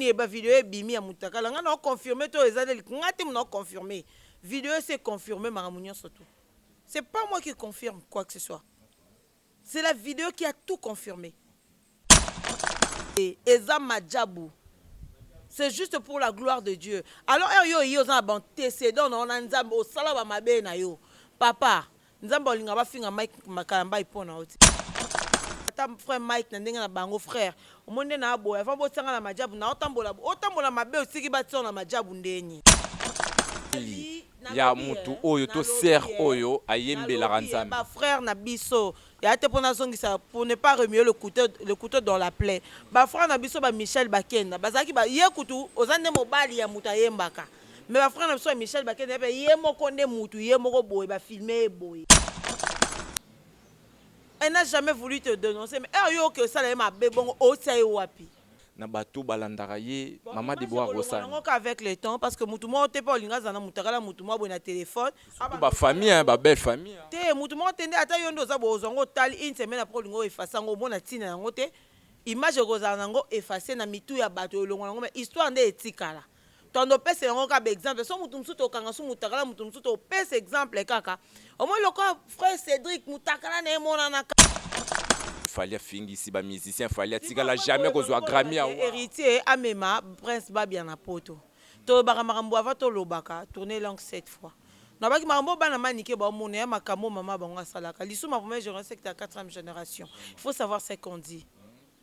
nini ba video ebimi ya mutakala nga na confirmer to eza nde nga te muna confirmer video se confirmer makambo nyonso tout c'est pas moi qui confirme quoi que ce soit c'est la vidéo qui a tout confirmé et eza majabu c'est juste pour la gloire de dieu alors heure yo oyi oza na baantécédent na yo na nzambe osala bamabe na yo papa Nzambe olinga ba finga Mike kalambayi po na yo te ata frère Mike na ndenge na bango frère omoni nde na boye avant botia nga na majabu na otambola otambola mabe otiki batia yo na majabu ndeni ya mutu oyo to sœur oyo ayembelaka Nzambe. Ba frères na biso ya te pona zongisa pour ne pas remuer le couteau le couteau dans la plaie. Ba frères na biso ba Michel Bakenda bazalaki ba ye kutu oza nde mobali ya mutu ayembaka. Mais ba frère na biso ya Michel bakende pe ye moko nde mutu ye moko boye ba filme ye boye. Elle n'a jamais voulu te denoncer mais heure yo oke osala ye mabe bongo otia ye wapi? na bato balandaka ye maman Deborah Rossany. Bon image ekolongwa nango kaka avec le temps parce que mutu moko te pe olinga azala na mutakala mutu mwa boye na telephone. Surtout ba famille hein ba belle famille hein. Te mutu moko te nde ata yo nde oza boye ozwa yango otali une semaine après olinga o effacer yango omona tina yango te image ekozala nango effacer na mitu ya bato elongwa nango mais histoire nde etikala. Tondo opesa yango kaka ba exemple soki mutu mususu tokanga su mutakala mutu mususu topesa exemple kaka omoni lokola frère Cedric mutakala naye emonanaka. Fally afingisi ba musiciens Fally atikala jamais kozua Grammy ya wa. Heritier amema prince babia na poto tolobaka makambo avant tolobaka tourne langue cette fois nalobaki makambo oyo bana manike bao mona ya makambo oyo maman bango asalaka lisu ma première generation sekita ya 4 generation il faut savoir ce qu'on dit.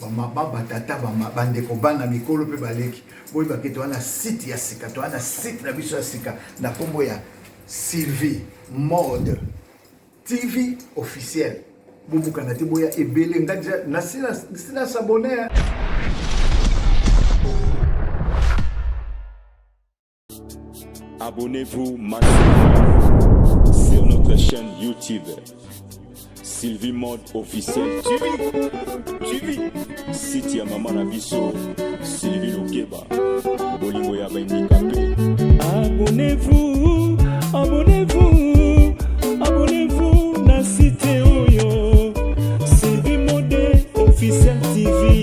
bamaba batata bama bandeko bana mikolo mpe baleki boyeba ke toza na site ya sika toza na site na biso ya sika na nkombo ya sylvie mode tv officiel bobukana te boya ebele nga deja nasila sabone Abonnez-vous maintenant sur notre chaîne YouTube. Sylvie Mode officiel. Tu vis, tu vis. Site ya maman na biso, Sylvie Lokeba. Bolingo ya bandikape. Abonnez-vous, abonnez-vous, abonnez-vous na site oyo. Sylvie Mode officiel TV.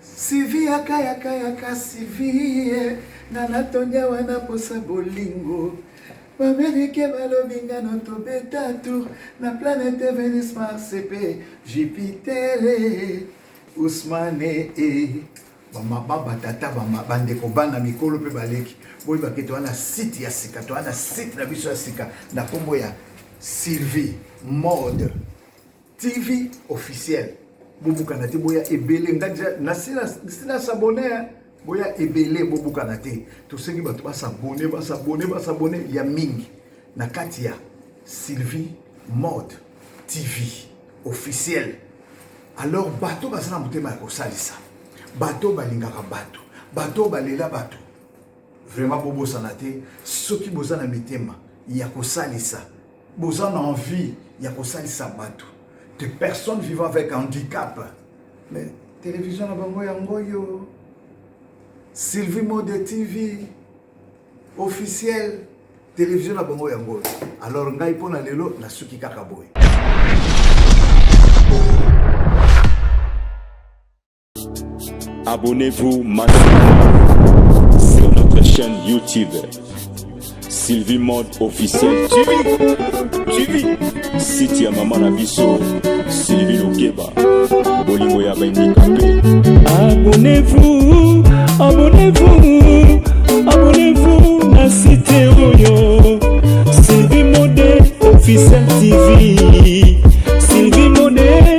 Sylvie yaka yaka yaka Sylvie nga na tondia wana posa bolingo bamerike balobi nga no tobeta tour na planete venus marse mpe jupitere usmane e bamaba batata bandeko bana mikolo mpe baleki boyeba ke toa na site ya sika toa na site na biso ya sika na nkombo ya sylvie mode TV officiel bobukana te boya ebele nga deja nasi na s'abonner hein. boya ebele bobukana te tosengi bato basabone basabone basabone ya mingi na kati ya sylvie mode tv officiel alors bato baza na motema ya kosalisa bato balingaka bato bato balela bato vraiment bobosana te soki boza na mitema ya kosalisa boza na envie ya kosalisa bato de personnes vivant avec handicap mais télévision na bango yango oyo sylvie mode tv officiel télévision na bango yango oyo alors ngai mpo na lelo nasuki kaka boye Abonnez-vous maintenant sur notre chaîne YouTube. Sylvie Mode officiel. Tu vis, tu vis. Site ya maman na biso, Sylvie Lokeba. Bolingo ya bandikape. Abonnez-vous, abonnez-vous, abonnez-vous na site oyo. Sylvie Mode officiel TV. Sylvie Mode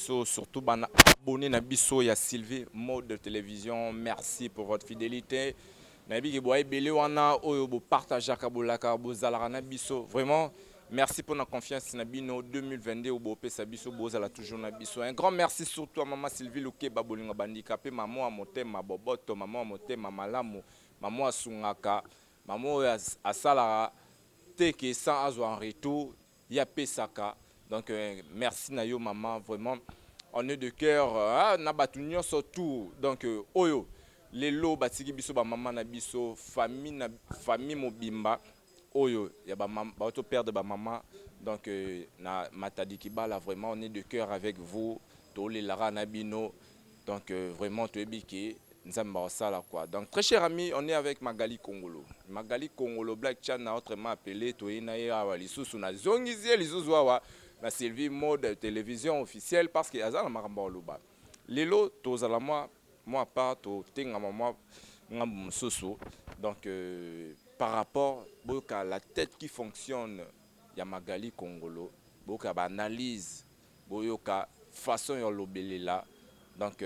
biso surtout bana abonné na biso ya Sylvie Mode Television merci pour votre fidélité nayebi ke boa ebele wana oyo bopartageaka bolaka bozalaka na biso vraiment merci pour na confiance na bino 2022 oyo bopesa biso bozala toujours na biso un grand merci surtout à mama Sylvie Lukeba bolingo bandikape mama ya motema boboto mama ya motema malamu mama asungaka mama oyo asalaka te ke sans azwa en retour ye apesaka donc euh, merci na yo maman vraiment en est de cœur hein, na bato nyonso tout donc euh, oyo lelo batiki biso bamama na biso famille na famille mobimba oyo ya bato perdre bamama donc euh, na matadi kibala vraiment on est de cœur avec vous toolelaka na bino Donc euh, vraiment toyebi ke nzambe bakosala quoi donc très cher ami on est avec magali kongolo magali kongolo black chan na autrement appelé toyei na ye awa lisusu nazongisi ye lisusu awa na sylvie mode télévision officielle parce que aza na makambo ya koloba lelo tozala mwa mwa part totengama mwa ngambo mosusu donc euh, par rapport boyoka la tête qui fonctionne ya magali kongolo boyoka baanalyse Boyoka façon ya olobelela donc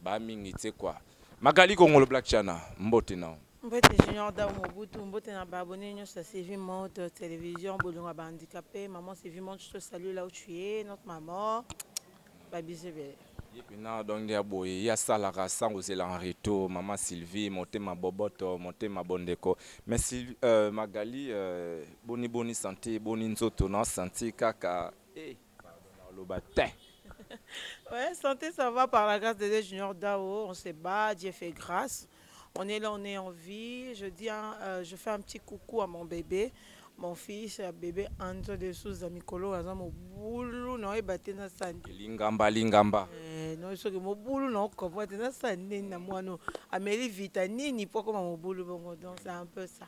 ba mingi tse quoi. Magali kongolo black chana mbote na yo. Mbote junior dau mobutu mbote na ba abonnes nionso ya Sylvie monde television bolingo ya ba handicapes maman Sylvie monde je te salue là où tu es notre maman ba bisous ebele. Ye pena donc nde ya boye ye asalaka sans kozela en retour maman Sylvie motema boboto motema bondeko mais Magali boni boni sante boni nzoto na senti kaka Eh, pardon, na oloba te. ouais, santé, ça va par la grâce de Dieu, Junior Dao. On se bat, Dieu fait grâce. On est là, on est en vie. Je dis, hein, euh, je fais un petit coucou à mon bébé, mon fils, euh, bébé Anzo de Souza Mikolo, aza mobulu na oyeba te na sandi. Lingamba, lingamba. Eh, no soki mobulu na okopo te na sandi na mwana ameli vita nini po koma mobulu bongo donc c'est un peu ça.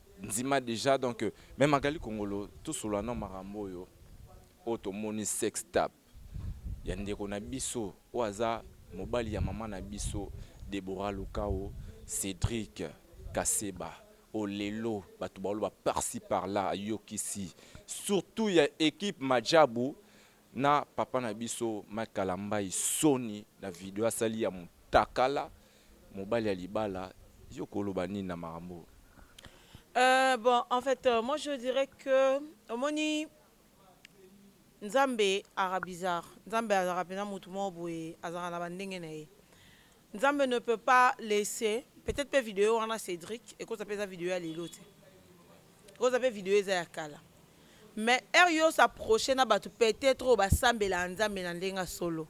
ndima dejà donc mais magali kongolo tosolola nao makambo oyo oyo tomoni sex tape ya ndeko na biso oyo aza mobali ya mama na biso debora lukau cedrik kaseba oyo lelo bato baoloba parci parla ayokisi surtout ya equipe majabu na papa na biso Mike Kalambayi soni na video asali ya mutakala mobali ya libala yo koloba nini na makambo oyo? Euh, bon, en fait, euh, moi je dirais que omoni Nzambe ara bizarre. Nzambe azaka pena mutu moko boye, azaka na bandenge na ye. Nzambe ne peut pas laisser peut etre pe video wana Cedric ekoza pe eza video ya lelo te ekoza pe video eza ya kala mais heure yo s'approcher na batu peut etre oyo ba sambelaka Nzambe na ndenge ya solo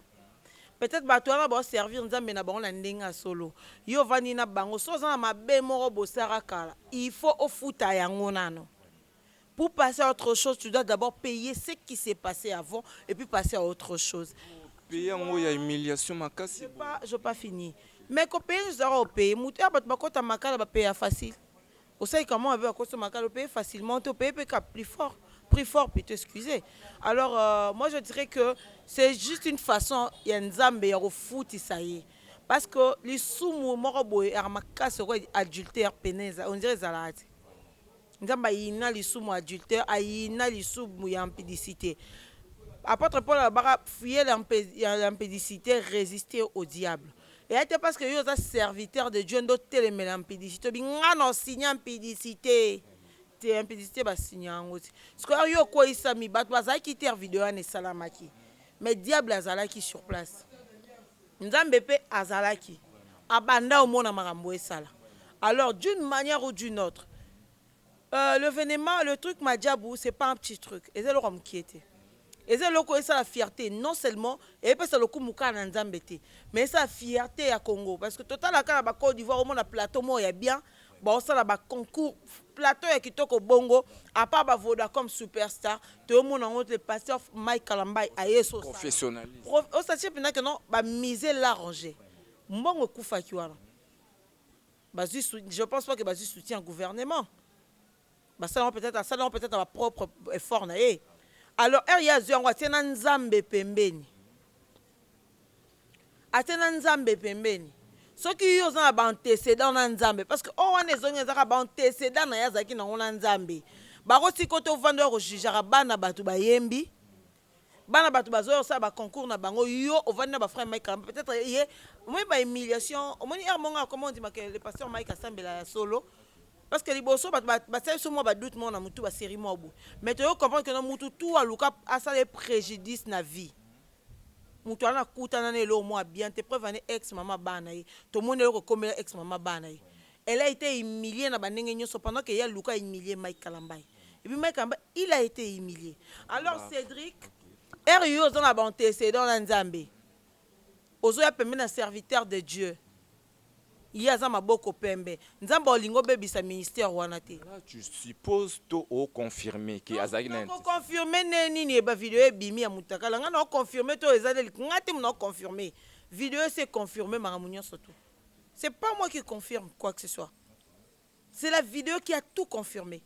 peut etre batu wana bao servir Nzambe na bango na ndenge ya solo yo ovandi na bango soki oza na mabe moko bosara kala il faut ofuta yango nanu Pour passer à autre chose tu dois d'abord payer ce qui s'est passe avant et puis passer à autre chose. Paye yango ya humiliation makasi boye. Pas, je pas fini. Mais ko payer nzoto yako payer mutu ya batu bakota makala ba payer facile. Osali ka mwana pe bakota makala o payer facilement te o payer pe ka plus fort prix fort plutôt excusez. Alors euh, moi je dirais que c'est juste une façon ya Nzambe ya kofutisa ye. Parce que lisumu moko boye ya makasi okoy adultère peneza on dirait ezalaka te. Nzambe ayina lisumu ya adultère, ayina lisumu ya impudicite. Apotre Paul alobaka fuyele ya impudicite, resister au diable. Eya te parce que yo oza serviteur de Dieu nde otelemela impudicite, obi nga na signa impudicite te, impudicite ba signa yango te. Sikoyo yo okweyisami, batu bazalaki te heure video wana esalamaki mais diable azalaki sur place. Nzambe pe azalaki abanda omona makambo esala alors d'une manière ou d'une autre euh l'evenement le truc majabu c'est pas un petit truc eza eloko ya mukie te eza eloko esala fierte non seulement epesa lokumu kaka na Nzambe te mais esala fierte ya Congo parce que totala kaka na ba cote d'ivoire omona plateau moko ya bien baosala ba concours plateau ya kitoko bongo apart ba vodacom superstar toyomona yango te pasteur mike kalambay aye so osatie mpenza ke non ba mise large mbongo ekufaki wana bazwi je pense pas ke bazwi soutien ya gouvernement Basala yango peut-etre, asala yango peut-etre na ba propre effort na ye. Alors heure ye azwi yango atie na Nzambe pembeni. Atie na Nzambe pembeni. Soki yo oza na ba antecedents na Nzambe parce que oyo wana ezongi eza kaka ba antecedents na ye azalaki na yango na Nzambe. Bakotika yo te ovanda oya ko jugeaka bana batu bayembi. Bana batu bazoya kosala ba concours na bango yo ovandi na ba frère Mike Karamba peut etre ye omoni ba humiliation omoni heure monga akoma ondima que le pasteur Mike asambela ya solo parce que liboso batu batia biso mwa ba doute mwa na mutu ba serie mwa boye mais toyo comprendre que na mutu tout aluka asala ye prejudice na vie mutu ana kutana na eloko mwa bien te preuve ane ex mama bana ye tomoni eloko ekomela ex mama bana ye Elle a ete humilie na ba ndenge nyoso pendant que ye aluka a humilie Mike Kalambay et puis Mike Kalambay il a ete humilie alors Cedric heure yo oza na ba antecedents na Nzambe ozo ya pembeni ya serviteur de Dieu ye aza maboko pembe Nzambe olingi obebisa ministère wana te? Là tu suppose to o confirmer que azalaki na Nako confirmer ndenge nini ba video ebimi ya mutakala nga nao confirmer to eza nde nga te mutu nao confirmer video esi e confirmer makambo nyoso tout. C'est pas moi qui confirme quoi que ce soit. C'est la vidéo qui a tout confirmé.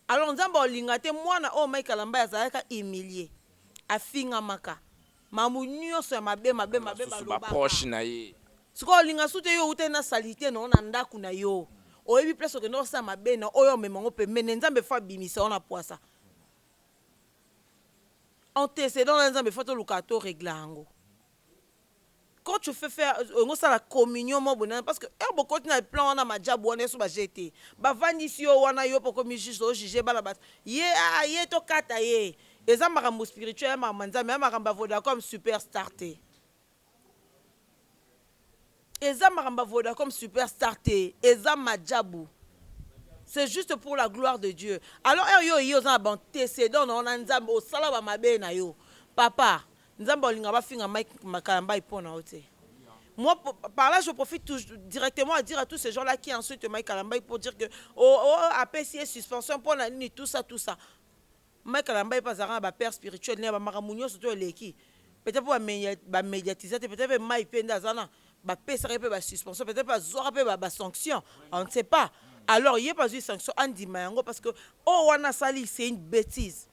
Alors nzambe olinga te mwana oyo Mike Alamba azalaka humilié. Afingamaka. Mamu nyonso ya mabe mabe mabe ba proche na ye. Sikoyo olinga su te yo outaki na salite na yo na ndako na yo. Oyebi place okende osala mabe na oyo omema yango pembeni nzambe fo abimisa yo na pwasa. Antecedent na nzambe fo toluka to regla yango. Quand tu fais faire euh, olingi osala communion moko boye nani parce que heure bokoti na plan wana majabu wana yesu baje te bavandisi yo wana yo mpe okomi juge ojuge bana bato ye aa ye tokata ye eza makambo spirituel ya makambo ya nzambe ya makambo ya vodacom superstar te eza makambo ya vodacom superstar te eza majabu c'est juste pour la gloire de dieu alors heure yo oye oza na baantecedent na yo na nzambe osala bamabe na yo papa Nzambe olingaka ba finga Mike Kalambay po na yo te? Moi, par là, je profite tout, directement à dire à tous ces gens-là qui insultent Mike Kalambay pour dire que oh, oh, oh APC est suspension, pour nini, tout ça, tout ça. Mike Kalambay pas à ba père spirituel, n'est pas makamunyo surtout leki. Peut-être pour ba médiatiser, peut-être Mike Penda azana, ba pesa pe ba suspension, peut-être pas zora pe ba sanction, on ne sait pas. Alors, il y a pas eu sanction, on dit mayango parce que oh, on a sali, c'est une bêtise.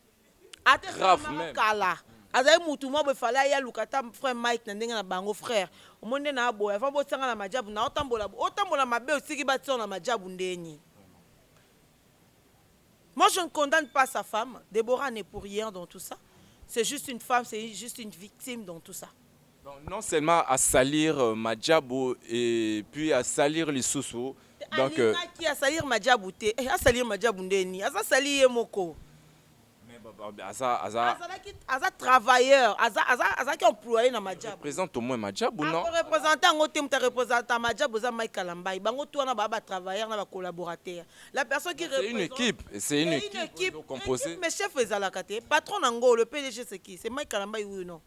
Grave meme. kala azali mutu mwa boye fale aya luka ata frère Mike na ndenge na bango frère omoni nde na boye avant botianga na majabu na otambola otambola mabe otiki batiyo na majabu ndeni moi je ne condamne pas sa femme Deborah n'est pour rien dans tout ça c'est juste une femme c'est juste une victime dans tout ça Donc non seulement à salir euh, Madjabou et puis à salir Lissousou. Donc euh, qui a salir Madjabou te. Eh, a salir Madjabou ndeni. Aza sali ye moko. mais bah, bah, bah, aza aza Azalaki aza travailleur, aza aza azaki employé na Madjabou. présente au moins Madjabou non? Ako représenter yango te mutu représenter Madjabou eza Mike Kalambayi. Bango tout wana ba ba travailleurs na ba collaborateurs. La personne qui C'est une représente- équipe, c'est une Mais équipe, équipe, oyo composée. équipe, mais chef ezalaka te. Patron na ngo le PDG c'est qui? C'est Mike Kalambayi oui ou non?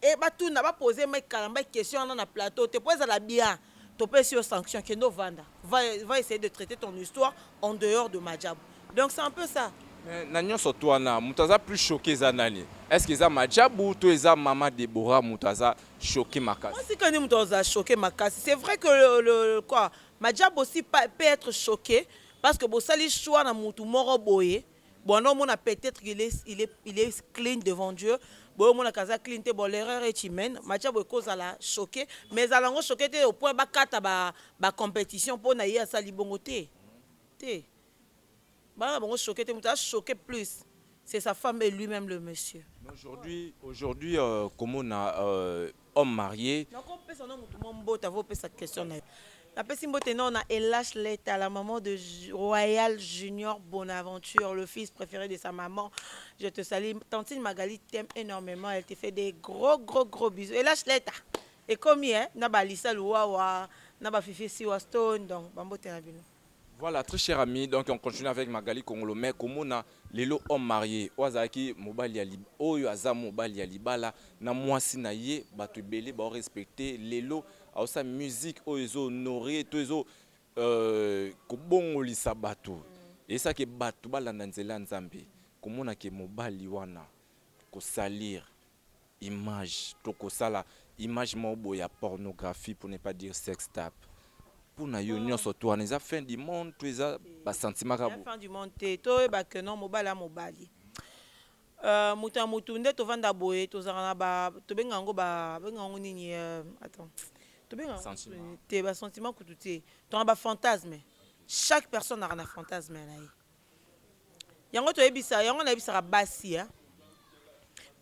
Et ba tuna ba poser mec kalambay question wana na plateau te po ezala bien topesi yo sanction kende ovanda va va essayer de traiter ton histoire en dehors de maajabu donc c'est un peu ça. Mais na nionso tout wana mutu aza plus choque eza nani est ce que eza maajabu to eza maman Deborah mutu aza choque makasi. Mwasi kani mutu aza choque makasi c'est vrai que le le quoi maajabu aussi pa peut etre choque parce que bosali choix na mutu moko boye. Bon omona peut etre qu'il est il est il est clean devant Dieu boye omonaka aza clean te bon l'erreur est humaine macha boye ko zala choque mais zala ngo choque te au point ba kata ba ba competition pona ye asali bongo te te bana bango choque te mutu a choque plus c'est sa femme et lui même le monsieur Aujourd'hui, aujourd'hui euh, komona euh, homme marie. Nako pesa no mutu mwa mbote avant opesa question nayo. Na pesi mbote no na Elash Leta la maman de Royal Junior Bonaventure le fils prefere de sa maman je te salie tantine Magali t'aime enormement elle te fait des gros gros gros bisous Elash Leta ekomi eh na ba Alisa Luwawa na ba Fifi Siwa Stone donc ba mbote na bino. Voilà, très cher ami, donc on continue avec Magali Kongolo, mais komona lelo homme marié, oyo azalaki mobali ya li- oyo aza mobali ya libala na mwasi na ye, bato ebele bao respecter lelo aosa musique oyo ezo honore to ezo euh, kobongolisa bato esa ke bato balanda nzela ya Nzambe, komona ke mobali wana kosalir Image to ko sala image moko boye ya pornographie pour ne pas dire sex tape. Po na yo nionso tout wana eza fin du monde to eza ba sentiment kaka boye? Eza fin du monde te, to yeba que non mobali ya mobali euh mutu ya mutu nde to vanda boye to zalaka na ba to benga yango ba benga yango nini euh attends to benga yango Sentiment. te ba sentiment kutu te to na ba fantasme chaque personne azalaka na fantasme na ye. yango toyebisa yango nayebisaka basi hein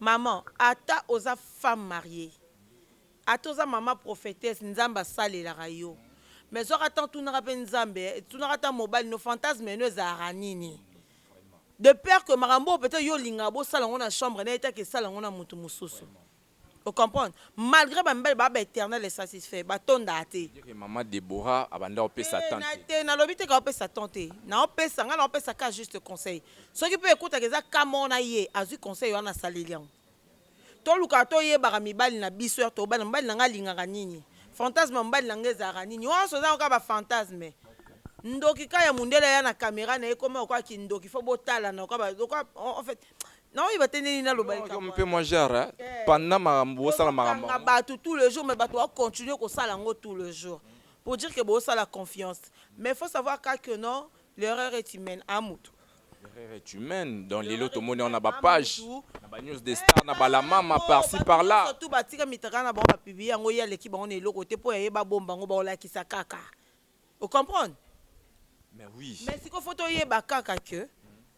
maman ata oza femme mariee ata oza maman prophetesse nzambe asalelaka yo mais zwaka temps tunaka pe nzambe tunaka ata mobali no fantasme no ezalaka nini de peur que makambo oyo peut-etre yo olingaka bosala yango na chambre naye te ake sala yango na mutu mususu O comprendre? Malgre ba mibali ba ba eternel insatisfait, ba tondaka te. Veut dire que maman Deborah abanda ko pesa Te, temps na, te. te, nalobi te que azo pesa temps te. Nao pesa, nga nao pesa kaka juste conseil. Soki pe ekotaka eza cas moko na ye, azui conseil wana asaleli yango. Tolukaka toyebaka mibali na biso, heure tokobala, mobali na nga alingaka nini? Fantasme ya mobali na nga ezalaka nini? Nionso eza kaka ba fantasmes. Ndoki kaka ya mundele aya na camera na ye, ekoma lokola kindoki, faut botalana lokola ba, lokola, en fait, na oyo bate ndeni naloba likambo wana. mpe mwa genre hein? Eh. panda makambo bosala makambo Tozokanga yango. bato tout le jour mais bato ba continuer kosala yango tout le jour pour dire que bosala confiance mais faut savoir ka que non l'erreur est humaine a moto Erreur est humaine donc lelo tomoni yango na ba page na ba news de star na balamama parci par là surtout batika mitaka na bango bapublie yango ye aleki bango na eloko te mpo ya ye babomba yango baolakisa kaka O comprendre? Mais oui. Mais sikoyo faut toyeba kaka que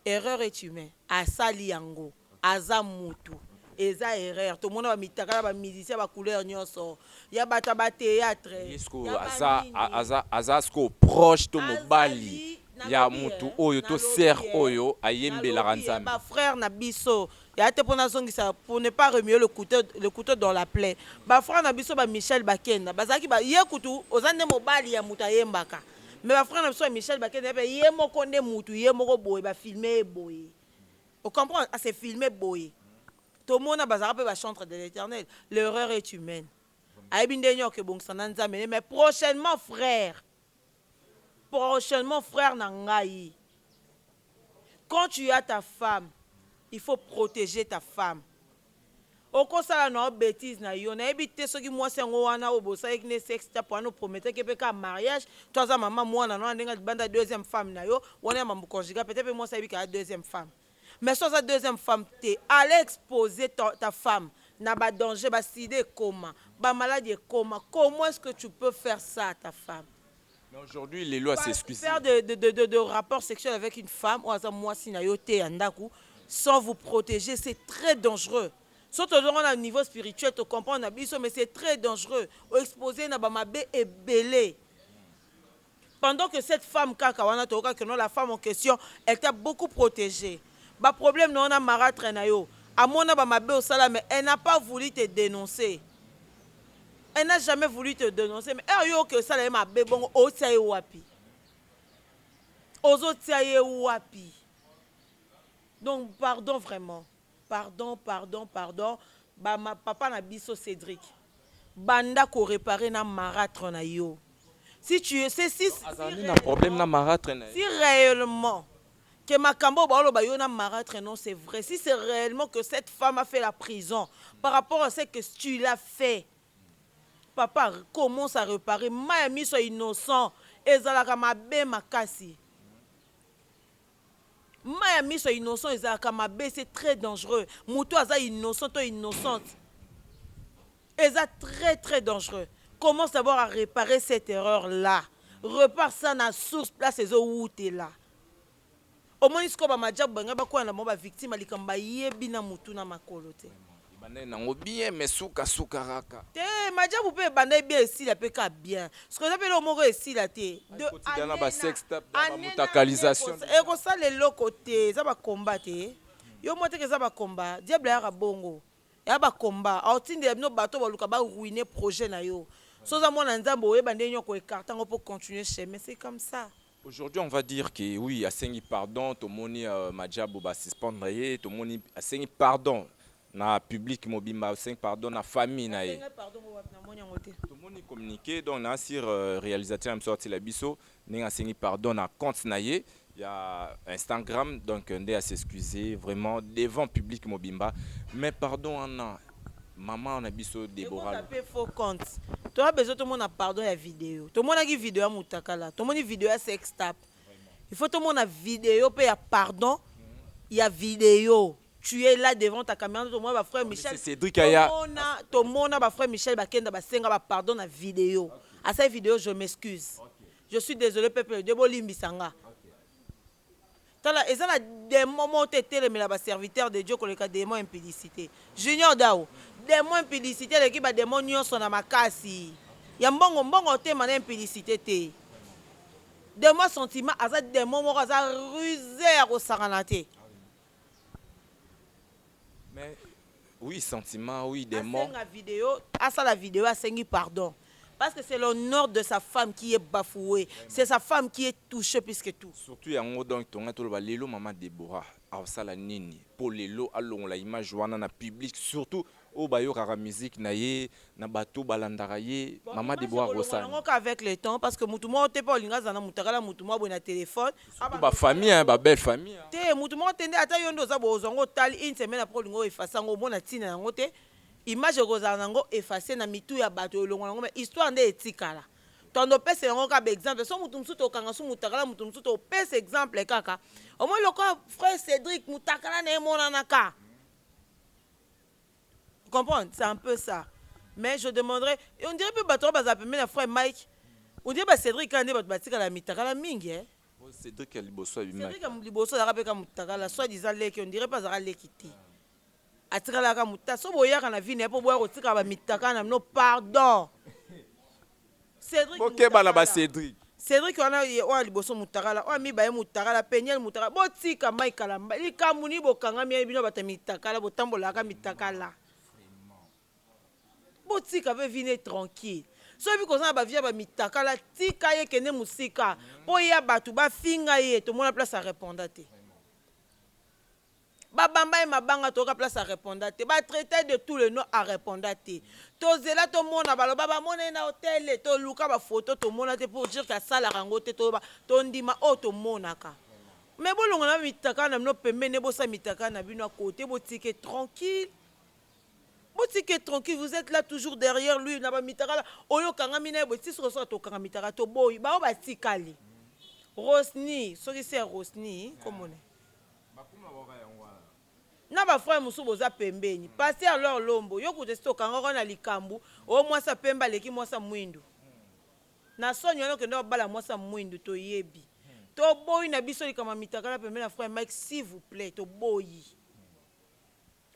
erreur est humain. Asali yango. Aza mutu. Eza erreur. Tomona ba mitakala ba musiciens ba couleur nionso. Ya batu ya ba theatre. Ye sikoyo Ya ba aza a- nini. aza aza sikoyo proche to mobali Azali, ya nalobi, mutu eh, oyo to nalobi, sœur eh, oyo ayembelaka nalobi, eh, Nzambe. ba frère na biso ya te pona azongisa pour ne pas remuer le couteau, le couteau dans la plaie ba frère na biso ba Michel Bakenda bazalaki ba ye kutu oza nde mobali ya mutu ayembaka mais ba frère na biso ya Michel Bakenda pe ye moko nde mutu ye moko boye ba filme ye boye au comprendre à se filmer boye tomona bazalaka pe ba chantre de l'Eternel l'erreur est humaine ayebi nde nioka ebongisa na Nzambe ne mais prochainement frère Prochainement frère na ngai quand tu as ta femme il faut proteger ta femme okosala na yo betise na yo nayebi te soki mwasi yango wana oyo bosalaki ne sex tape wana oprometaki ye pe kaka mariage to aza mama mwana na wana ndenge alibanda deuxième femme na yo wana ya mambo conjugal peut-être pe mwasi ayebi kaka deuxième femme Mais soki aza deuxième femme te aller exposer ta femme na ba danger ba sida ekoma ba maladi ekoma comment est ce que tu peux faire ça à ta femme? Mais aujourd'hui lelo a s'excuser. Faire de de de de de rapport sexuel avec une femme oyo aza muasi na yo te ya ndaku sans vous proteger c'est très dangereux soki tozongi wana na niveau spirituel to comprendre na biso mais c'est très dangereux o exposer ye na ba mabe ebele. Pendant que cette femme kaka wana toyoka que non la femme en question elle t'a beaucoup protege ba problème na yo na maratre na yo amona ba mabe osala mais elle n'a pas voulu te denoncer elle n'a jamais voulu te denoncer mais heure yo oke osala ye mabe bongo otia ye wapi ozotia ye wapi donc pardon vraiment Pardon pardon pardon ba ma papa na biso Cedric banda ko reparer na maratre na yo si tu es ce si azali na problème na maratre na ye si reellement que makambo oyo baoloba yo na maratre non c'est vrai si c'est reellement que cette femme a fait la prison par rapport à ce que tu l'as fait papa commence à reparer mayi ya miso ya innocent ezalaka mabe makasi. Mayi ya miso ya innocent ezalaka mabe ce très dangereux mutu aza innocent to innocente eza très très dangereux commence d'abord à reparer cette erreur là repart ça na source place ezowutela omoni sikoyo bamajabu balinga bakwela na bango bavictime ya likambo bayebi na motu na makolo te Ebandaki nango bien mais suka suka raka. Te majabu pe ebandaki bien esila pe ka bien sikoyo eza pe eloko moko esila te de annee na annee ekosala eloko te eza ba combat te yo omoni te ke eza ba combat diable ayaka bongo eya ba combat aotindela bino batu oyo baluka ba ruiner projet nayo soki oza mwana ya nzambe oyeba ndenge nini oko ecarte yango po continuer chemin c'est comme ça. Aujourd'hui on va dire que oui asengi pardon tomoni uh, majabu ba suspendre ye tomoni asengi pardon na public mobimba asengi pardon na famille na ye tomoni communiqué donc na sur uh, réalisateur ya msorti la biso ndenge asengi pardon na compte na ye ya Instagram donc nde a s'excuser vraiment devant public mobimba mais pardon wana Maman na biso Deborah. Ekota pe faux compte. Toa besoin tomona pardon ya video. Tomonaki video ya mutakala. Tomoni video ya sex tap. Il faut tomona video pe ya pardon ya video. Tu es là devant ta caméra tomona ba frère Michel. Cédric aya. Tomona tomona ba frère Michel bakenda basenga ba pardon na video. Asali video je m'excuse. Je suis désolé peuple de Dieu bolimbisa nga. Tala eza na demon moko te etelemela ba serviteur de Dieu koleka demon impudicite. Junior Dau demon impudicite eleki ba demon nioso na makasi ya mbongo mbongo otema na impudicite te. Demon ya sentiment aza demon moko aza ruse ya kosakana te. Mais oui, sentiment, oui, des mots. Asenga video, asala video, asengi pardon. Parce que c'est l'honneur de sa femme qui est bafoué. C'est sa femme qui est touchée plus que tout. Surtout yango donc tonga toloba lelo maman Deborah asala nini po lelo alongola image wana na public surtout oyo bayokaka musique na ye na bato oyo balandaka ye mama Deborah Akosala nini? avec le temps parce que mutu moko te pe olinga azala na mutakala ya mutu moko boye na telephone surtout ba famille hein ba belle famille hein. Te mutu moko te nde ata yo nde oza boye ozua yango otali une semaine après olinga o efface yango omona tina yango te image ekozala na yango efface na mitu ya batu elongua na yango mais histoire nde etikala tond opesela yango kaka ba exemple soki mutu mususu tokanga su mutakala mutu mususu topesa exemple kaka omoni lokola frère Cedric mutakala na ye emonanaka comprendre c'est un peu ça mais je demanderai et on dirait pe bato wana bazala pembeni ya frère Mike on dirait ba Cedric kaka nde bato batikala ya mitakala mingi eh Oyo Cedric ya liboso abimaki. Cedric ya mu- liboso azalaka pe ka mutakala soit disant leki on dirait pe azalaka leki te atikalaka muta so boyaka na vie na ye po boya kotikala ba mitakala na bino pardon Cedric bokeba na ba Cedric Cedric wana ye oyo liboso mutakala oyo mibaye mutakala peniel mutakala botika mai kala likambu ni bokangami ya bino bata mitakala botambolaka mitakala botika pe vine tranquille soki biko oza na bavia ba mitakala tika ye kende mosika po ya bato bafinga ye tomona place areponda te Ba bamba ye mabanga toyoka place a reponda te ba traita ye de tout le nom a reponda te tozela tomona baloba bamona ye na hotel toluka ba photo tomona te pour dire que asalaka yango te toloba tondima oyo tomonaka mais bolongola ba mitakala na bino pembeni ne bosala mitakala na bino a cote botike tranquille botike tranquille vous êtes là toujours derrière lui na ba mitakala oyo okangami na ye boye tisi kosoka tokanga mitakala toboyi baoyo batikali rosni soki se ya rosni komona na ba frère mosusu boza pembeni pasteur lor lombo yo kutu esi tokangaka yo na likambu o mwasi ya pembe aleki mwasi ya mwindu na soni wana okenda obala mwasi ya mwindu toyebi toboyi na biso likambo ya mitakala pembeni ya frère mike s'il vous plait toboyi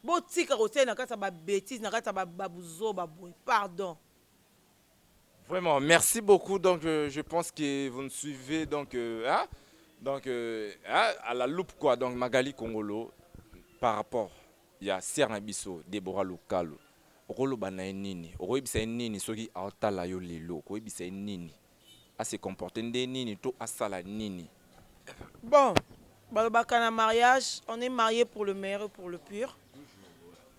botika kotia na kati ya ba betise na kati ya ba buzoba boye pardon Vraiment, merci beaucoup. Donc, euh, je pense que vous nous suivez donc, euh, hein? donc euh, hein? à la loupe, quoi. Donc, Magali Congolo, par rapport, il y a Sierre Nabiso, Deborah Lukalo. okoloba na ye nini okoyebisa ye nini soki aotala yo lelo okoyebisa ye nini ase comporte nde nini to asala nini bon balobaka na mariage on est marié pour le meilleur et pour le pire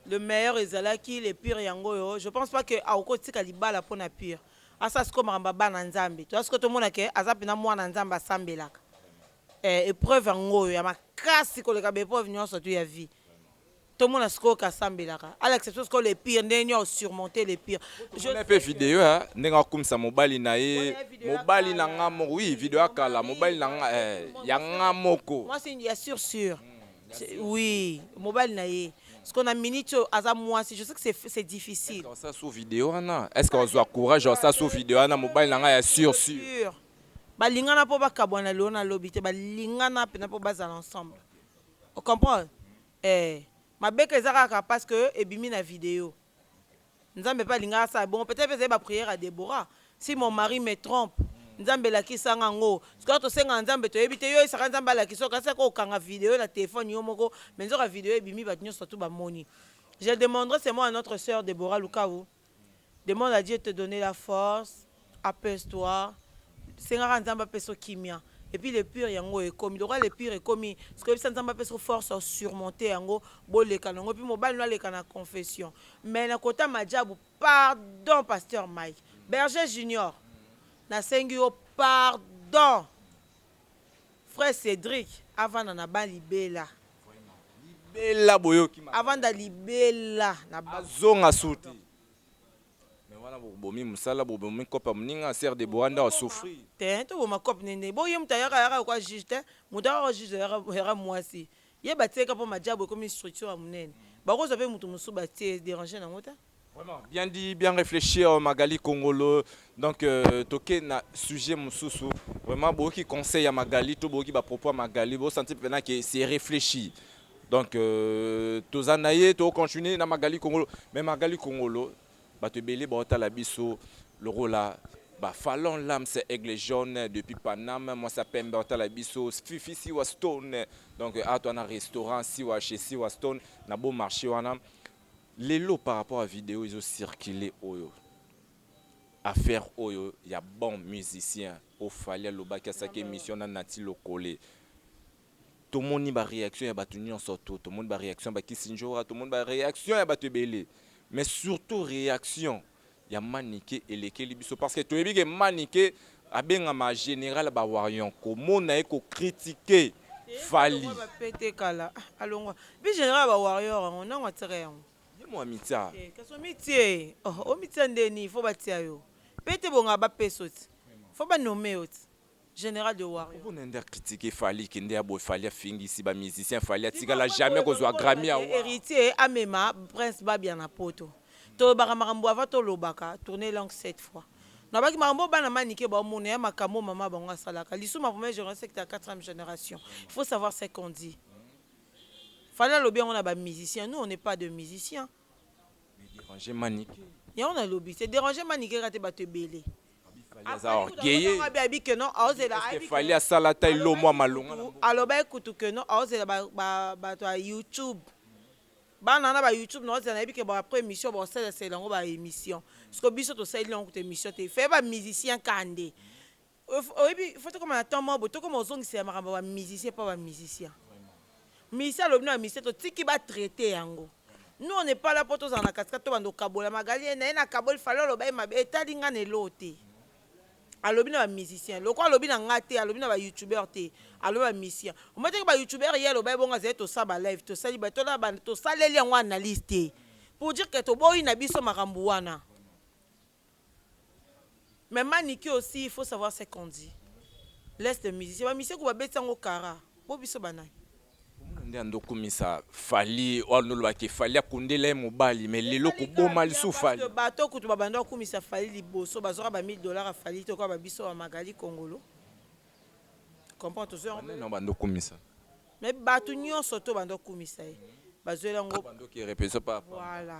Le meilleur ezalaki le pire yango oyo je pense pas que akoki kotika libala mpo na pire asala sikoyo makambo ya bana nzambe toza sikoyo tomona ke aza mpenza mwana nzambe asambelaka eh, epreuve yango oyo ya makasi koleka baepreuve nyonso tu ya vie tomona sikoyo ke asambelaka à l'exception sikoyo le pire ndenge nini osurmonte le pire Je Mona pe video ya ndenge akumisa mobali na ye, Mona ye video ya mobali na kala. nga moko. Oui, video ya kala, mobali na nga eh, ya nga moko. mwasi ya sur sur Oui, mobali na ye. Parce qu'on a minute aza mwasi, je sais que c'est c'est difficile. Osa sous vidéo wana. Est-ce que ozwa courage osa sous vidéo wana mobali na ngai ya sur sur. Sûr. Balingana po bakabwana lelo na lobi te, balingana pena po bazala ensemble. O comprendre? Eh, mabeka eza kaka parce que ebimi na video. Nzambe pe alingaki asala bongo peut-etre pe ezali ba prière ya Deborah si mon mari me trompe Nzambe lakisa nga ngo sikoyo tosengaka Nzambe toyebi te yo oyebisaka Nzambe alakisa yo kasi ko kanga video na telephone yo moko mais nzoka video ebimi batu nionso tout ba moni je demanderai seulement à notre sœur Deborah Lukawu demande à Dieu te donner la force Apaise toi senga ka nzambe apesa yo kimia epuis le pure yango oyo ekomi lokola le pure ekomi sikoyo yebisa nzambe apesa yo force ya surmonter yango boleka na yango epuis mobali no aleka na confession mais na kota majabu pardon pasteur Mike berger junior na sengi yo pardon frère Cedric avanda na ba libela Libela boyoki makambo. avanda libela na ba Azonga suti. Mais wana bobomi musala bobomi coop ya muninga sœur Deborah nde a souffrir. Te toboma coop nde nde boye mutu ayaka ayaka lokola juge te mutu ayaka lokola juge ayaka ayaka muasi ye batie ka po majabu ekomi structure ya munene bakozwa pe mutu mususu batie e deranger nango te. Vraiment bien dit bien reflechir Magali kongolo donc euh, toke na sujet mususu vraiment boyoki conseil ya Magali to boyoki ba propos ya Magali bo sentir pena que c'est reflechi donc euh, toza na ye tokocontinue na magali kongolo mais magali kongolo bato ebele baotala biso lokola ba fallon lams aigle jaune depuis paname mwasi ya pembe otala biso fifi siwa stone donc ato wana restaurant siwa chez siwa stone na beau marché wana lelo par rapport à video ezo circuler oyo affaire oyo ya bon musicien ofali alobaki asaki émission na nati lokole Tomoni ba reaction ya batu nionso to tomoni ba reaction ya ba Kissindjora tomoni ba reaction ya batu ebele mais surtout reaction ya Manike elekeli biso parce que toyebi ke Manike abengama general ba warrion komona ye ko critique Fally Alongwa ba pete kala. Ah, Alongwa. Bi general ba warrior yango nango atika yango. ye mo amitia Eh, kasi omitie oh, omitia ndeni fo batia yo pete bonga bapeso ti fo banome yo ti General de warrior. Oyo nde a critique fally ki nde ya boye fally afingisi ba musiciens fally atikala jamais kozua Grammy award. Heritier amema prince babia na poto tolobaka makambo avant tolobaka tourne langue sept fois nalobaki makambo oyo bana manike bao mona ya makambo oyo maman bango asalaka lisu ma première generation ekita ya quatrième generation il faut savoir ce qu'on dit fally alobi yango na ba musiciens nous on n'est pas de musiciens Déranger Manicke. Yango na lobi te déranger Manicke kaka te bato ebele. Fally aza orgueilleux. Abi abi que non aozela Est-ce que Fally asala ata elo mwa malonga na mboka? alobaki kutu que non aozela ba- ba- bato ya youtube bana wana ba youtube na ozela nayebi ke ba après émission baosalesela yango ba émission siko biso tosaleli yango kutu émission te feye ba musicien kande oyebi faut tokoma na temps moko boye tokoma ozongisela makambo ya bamusicien mpo bamusicien musicien alobi na bamusicien totiki batraite yango nous on n'est pas là mpo tozala na katikati tobanda okabola magali ye na ye nakaboli fale oloba ye mabe etali ngai na eloo te alobi na bamusicien loko alobi na ngai te alobi na bayoutubeur te alobi na bamusicien omataki bayoutubeur ye aloba ye bongo azali tosala balive tosali tosaleli yango analyse te pour dire ke toboyi na biso makambo wana Mais manike aussi il faut savoir ce qu'on dit laisse les musiciens ba musiciens kutu ba betisa ngo kara po biso ba nani? Omona nde ando kumisa Fally wana oloba ke Fally akundela ye mobali mais lelo ko boma lisusu Fally. Parce que bato kutu ba banda ko kumisa Fally liboso ba zwaka ba 1000 dollars ya Fally te lokola ba biso ba Magali kongolo comprends tozo yango. Ba nani yango bando kumisa? Mais bato nionso to banda ko kumisa ye ba zweli yango. Ba ndoki repetition pa. Voilà.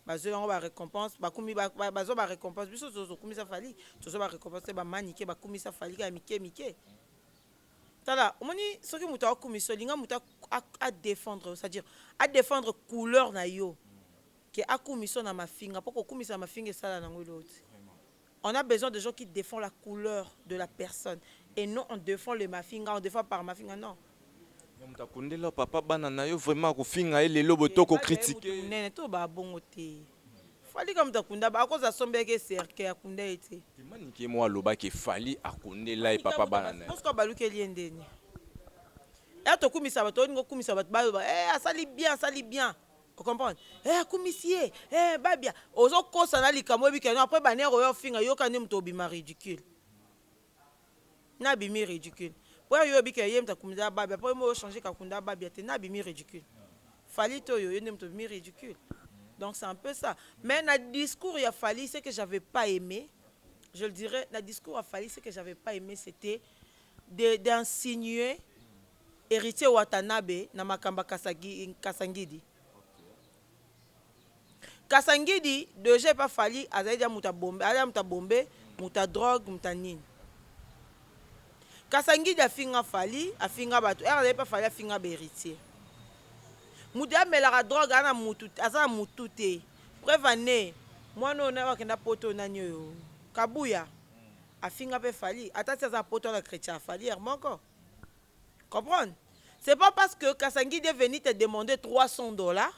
Bazui bango ba recompense bakumi bazua ba recompense biso tozo kumisa Fally tozua ba recompense te ba manike bakumisa Fally kaka mike mike tala omoni soki moto akumisa olinga moto a défendre yo c'est-à-dire a défendre couleur na yo ke akumisa na mafinga mpo kokumisa na mafinga esala nango eloko te On a besoin de gens qui defend la couleur de la personne et non on defend le mafinga on defend par mafinga non. Yo mutu akundeli yo papa bana nayo vraiment kofinga ye lelo boye to ko critique ye. Munene to ba bongo te fally kaka mutu akunda ba akoza asombelaki ye cercueil akunda ye te. Te manike ye moko aloba ke fally akundela ye papa bana naye. Bosco abalukeli ye ndeni? Y'a tokumisa batu olingi okumisa batu baloba eh asali bien asali bien. O comprendre? Eh akumisi ye, eh babia. Ozo kosa na likambo oyebi que non après ba nerfs oya ofinga yoka nde mutu obima ridicule. Na bimi ridicule. Po yo oyebi que ye mutu akumisa ya babia po yo moko o changer kakunda ya babia te na bimi ridicule. Fally to yo yo nde mutu obimi ridicule. Donc c'est un peu ça. Mais na discours ya Fally ce que j'avais pas aime, je le dirais, na discours ya Fally ce que j'avais pas aime c'etait de d'insinuer Heritier watanabe na makambo ya kasangidi kasangidi deja epa fally azali deja mutu ya bombe aza mutu ya bombe mutu ya drogue mutu ya nini kasangidi afinga fally afinga batu heure azali epa fally afinga ba heritier mutu ya melaka drogue aza na mutu aza na mutu te preuve en est mwana oyo nayo akenda poto nani oyo kabuya afinga pe fally ata ti aza poto na chretien ya fally heure moko Comprendre? C'est pas parce que Kasangidi est venu te demander 300 dollars.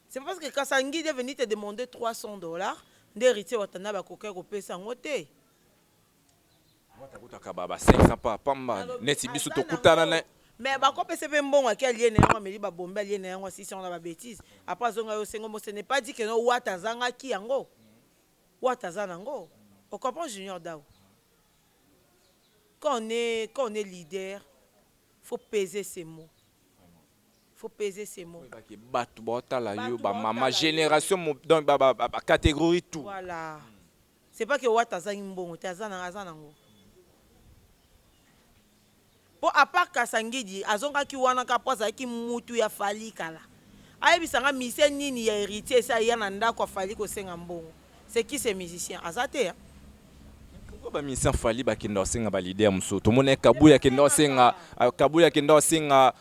C'est parce que Kasangidi est venu te demander 300 dollars. Nde héritier Watanabe akokaki kopesa yango te. Watakutaka ba ba 500 pa pamba Alobi, neti biso aza tokutana nango. na mais bakopesa mpe mbongo ake alie na yango ameli babombe alie na yango asisi yango na babetise apres azonga yo osengo mo ce n'est pas dit que no wata azangaki yango wata aza nango ocomprend junior dau quand on est quand on est leader faut peser ses mots faut peser ses mots Oyeba ke batu baotala yo Batu ba mama baotala yo. generation mo- donc ba ba ba ba categorie tout. voilà c'est pas que wata azangi mbongo te aza na aza nango Po à part Kasangidi azongaki wana kaka po azalaki mutu ya Fally kala. Ayebisa nga musicien nini ya Heritier esi aya na ndaku ya Fally kosenga mbongo? C'est qui ce musicien? Aza te hein. Mais pourquoi ba musiciens ya Fally ba kendaka kosenga ba leader mususu? Tomonaki Kabuya akenda kosenga, Kabuya akenda kosenga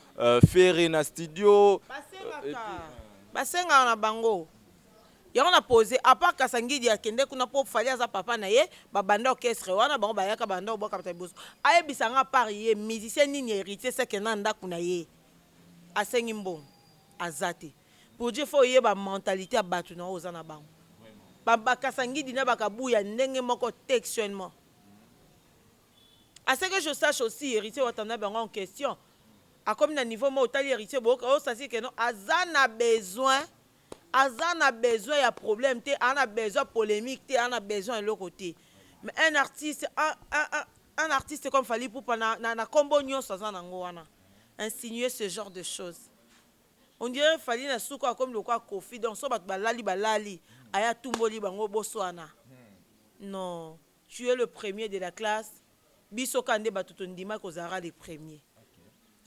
Ferre na studio. Basengaka, basengaka na bango. Yango na pose a part kasangidi akende kuna po fally aza papa na ye ba banda orchestre wana bango bayaka banda kobwakata liboso ayebisa nga a part ye musicien nini ya heritier seke na ndaku na ye asengi mbongo aza te pour dire faut oyeba mentalite ya batu na oyo oza na bango ba ba kasangidi na ba kabuya ndenge moko textuellement a ce que je sache aussi heritier watanabe yango en question akomi na niveau moko otali heritier boyoka oyo sasi keno aza na besoin Aza na besoin ya problème te aza na besoin ya polemique te aza na besoin ya eloko te mais un artiste un artiste comme Fally Ipupa na kombo nionso aza na ngo wana insinuer ce genre de chose on dirait Fally na suka akomi lokola Koffi donc soki batu balali balali aye atumboli bango boswana non Tu es le premier de la classe biso kaka nde batu tondimaki ozalaka le premier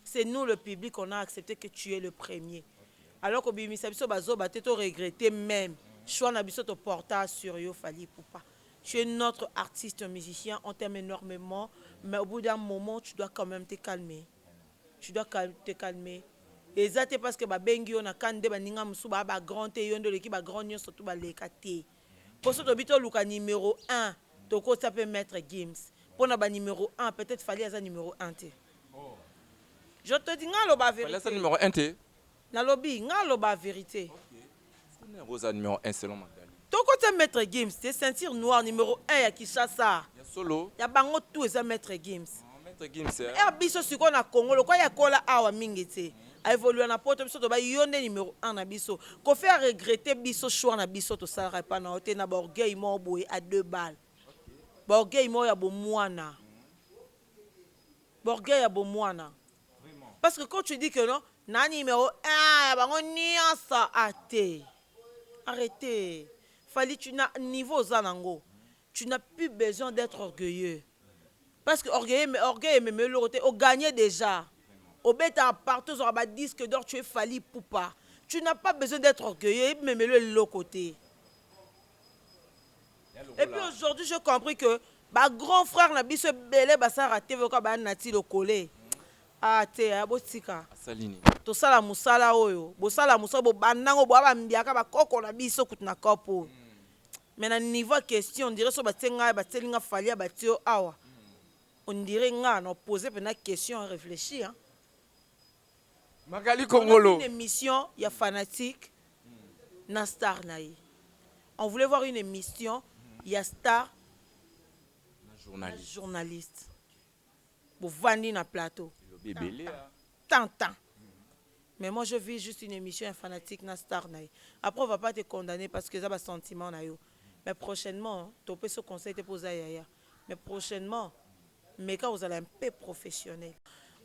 c'est nous le public on a accepte que tu es le premier alors kobimisa biso ba zoba te to regretter meme choix na biso to porta sur yo Fally Ipupa tu es notre artiste musicien on t'aime enormement mais au bout d'un moment tu dois quand même te calmer tu dois te calmer eza te parce que babengi yo na kani nde baninga mosusu baa ba grand te yo nde oleki ba grand nyonso tu baleka te Poso tolobi toluka numero un tokotisa pe maitre Gims pona ba numero un peut etre Fally aza numero un te je te dis nga aloba verite Fally aza numero un te nalobi nga aloba verite Nani aza numero un selon Magalie tokotisa maitre Gims te ceinture noire numero un ya Kinshasa ya solo ya bango tout eza maitre Gims maitre Gims eh biso sikoyo na Congo lokola ye akola awa mingi tse a evolua na poto biso tobai yo nde numero un na biso koffi a regrette biso choix na biso tosalaka epa na yo te na ba orgueil moko boye a deux balle ba orgueil moko ya bomuana ba orgueil ya bomuana parce que quand tu dis que non na numero un ya bango nyonso a te arrete fali tu na niveau oza nango tu n'as plus besoin d'etre orgueilleux parce que orgueilleux mais orgueil emema yo eloko te o gagne dejà obetaka partout ozwaka ba disque d'or tu es fali pupa tu n'as pas besoin d'etre orgueilleux emema yo eloko te et puis aujourd'hui j'ai compris que ba grand frère na biso ebele basalaka te voka ba nati lokole ah te ya botika asali nini tosala mosala oyo bosala mosala bobandango boa bambiaka bakoko na biso kutu na cope oyo Mais na niveau ya question on dirait soki batie nga batieli nga Fally abatie yo awa on dirait nga na poser pena question ya reflechi hein. Magali Kongolo. On a une emission ya fanatique na star na ye. On voulait voir une emission ya star na journaliste. Bovandi na plateau. Bebele. Tintin mais moi je vis juste une emission ya fanatique na star na ye après on va pas te condamne parce que eza ba sentiment na yo mais prochainement to pesi yo conseil te po oza yaya mais prochainement meka kozala un peu professionnel.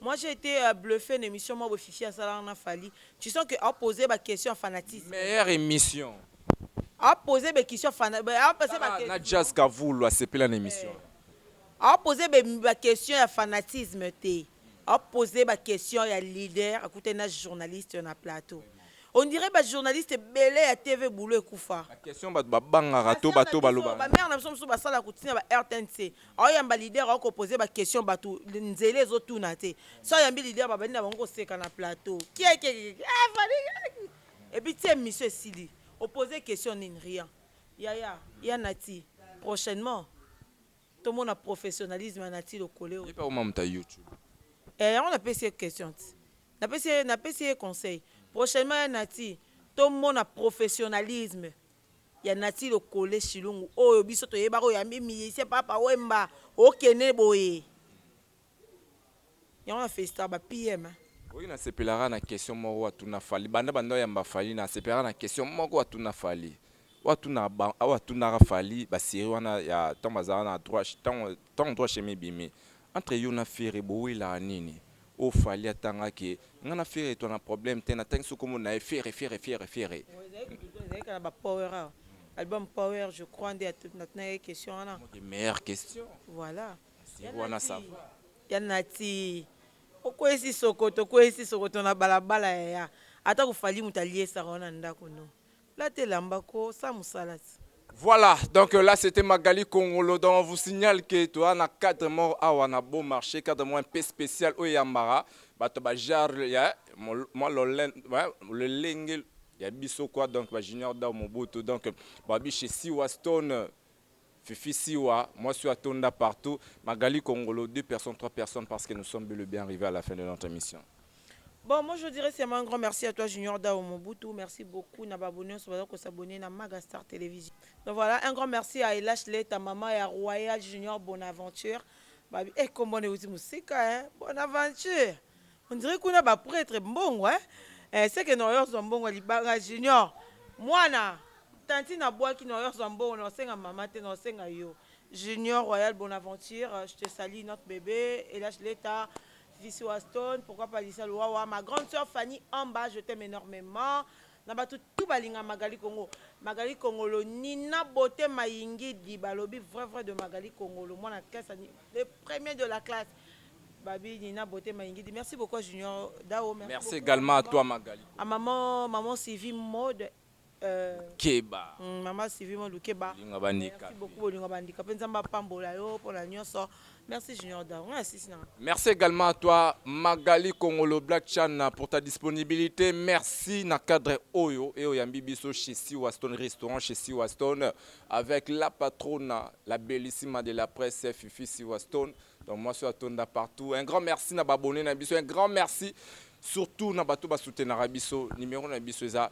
Moi j'ai ete bluffe na emission moko boye fifi asalaka na fally tu sens que a pose ye ba question ya fanatisme Meilleur emission a pose ye ba question ya fana a pose ye ba tala na jazz kavulu asepela na emission wana. a pose ye ba question ya fanatisme te. a poser ba question ya leader akutani na journaliste na plateau on dirait ba journaliste ebele ya TV boulot ekufa ba question batu ba bangaka to ba to ba loba ba mère na biso mususu basala kutina ba rtnc aoyamba leader ako poser ba question batu nzela ezo tuna te so ayambi leader babandi na bango koseka na plateau kiekiekie ah fali et puis ti emission esili o poser question nini rien yaya ya nati prochainement To mona professionnalisme ya Naty Lokole oyo. Ye pe akoma moto ya YouTube. Eh yango na pesi ye question ti. Na pesi ye na pesi ye conseil. Prochainement ya Naty to mona professionnalisme ya Naty Lokole Shilungu oyo biso to yebaka oyo ya mi musicien Papa Wemba okende boye. Yango na felicitaka ba PM hein. Oui na sepelaka na question moko atuna Fally banda banda oyamba Fally na sepelaka na question moko atuna Fally oyo atunaka ba oyo atunaka Fally ba serie wana ya tango bazalaka na droit tango tango droit chemin ebimi entre yo na Ferre bowelaka nini oyo Fally atanga ke nga na Ferre to na problème te natangisi yo kombo na ye Ferre Ferre Ferre Ferre Bon ezali kutu te ezali kaka na ba power awa album power je crois nde natunaki ye question wana. Meilleure question. Voilà. Wana ça va. Ya Nati. Okwesi sokoto, okwesi sokoto na balabala yaya. Ata ko Fally moto aliesaka yo na ndako no. Lata elamba ko sa musala ti. Voilà, donc là c'était Magali Kongolo. Donc on vous signale que tu as un cadre mort à Wana Beau Marché, cadre moins un peu spécial au Yambara. Bato ba jar ya moi le lenge ya biso quoi donc ba junior da mobutu donc ba bi chez Siwa Stone Fifi siwa mwasi oyo atonda partout Magali kongolo deux personnes trois personnes parce que nous sommes bel et bien arrive à la fin de notre emission. Bon moi je dirais seulement un grand merci à toi Junior Dao Mobutu merci beaucoup na babo nionso baza ko s'abonner na Maga Star Television donc voilà un grand merci à Elash Leta maman ya Royal Junior Bonaventure babi eh kombo na euti musika hein Bonaventure On dirait kuna ba pretre mbongo hein. Eh, seke noyor zwa mbongo ya libanga junior mwana tantine abwaki noyor zwa mbongo na osenga mama te na osenga yo junior royal bonaventure je te salie notre bebe elage leta vici waston pourquoi pas lisa luwawa ma grande sœur fanny amba je t'aime énormément Na batu tout balinga Magali Kongo Magali Kongolo Nina Beaute Mayingidi balobi vrai vrai de Magali Kongolo mwana classe le premier de la classe babi Nina Beaute Mayingidi merci beaucoup à Junior Dao merci, merci beaucoup, également à toi Magali à maman maman Sylvie mode euh, Keba mm, maman Sylvie mode Keba merci beaucoup bolinga bandika pe nzamba pambola yo pona nyoso Merci Junior Dao. Merci également à toi Magali Kongolo Black Chan pour ta disponibilité. Merci na cadre Oyo et Oyambi Biso chez Siwa Stone Restaurant chez Siwa Stone avec la patronne, la bellissima de la presse Fifi Siwa Stone. Donc moi sur Tonda partout. Un grand merci na abonné na biso. Un grand merci surtout na bato ba soutenir biso. Numéro na biso eza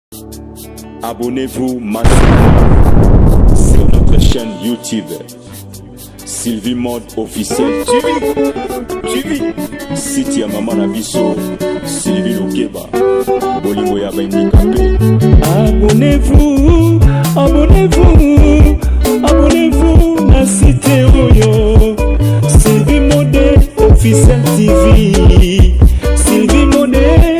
Abonnez-vous maintenant sur notre chaîne YouTube. Sylvie Mode officiel TV TV site ya mama na biso Sylvie Lokeba bolingo ya bandika mpe abonnez-vous abonnez-vous abonnez-vous na site oyo Sylvie Mode officiel TV Sylvie Mode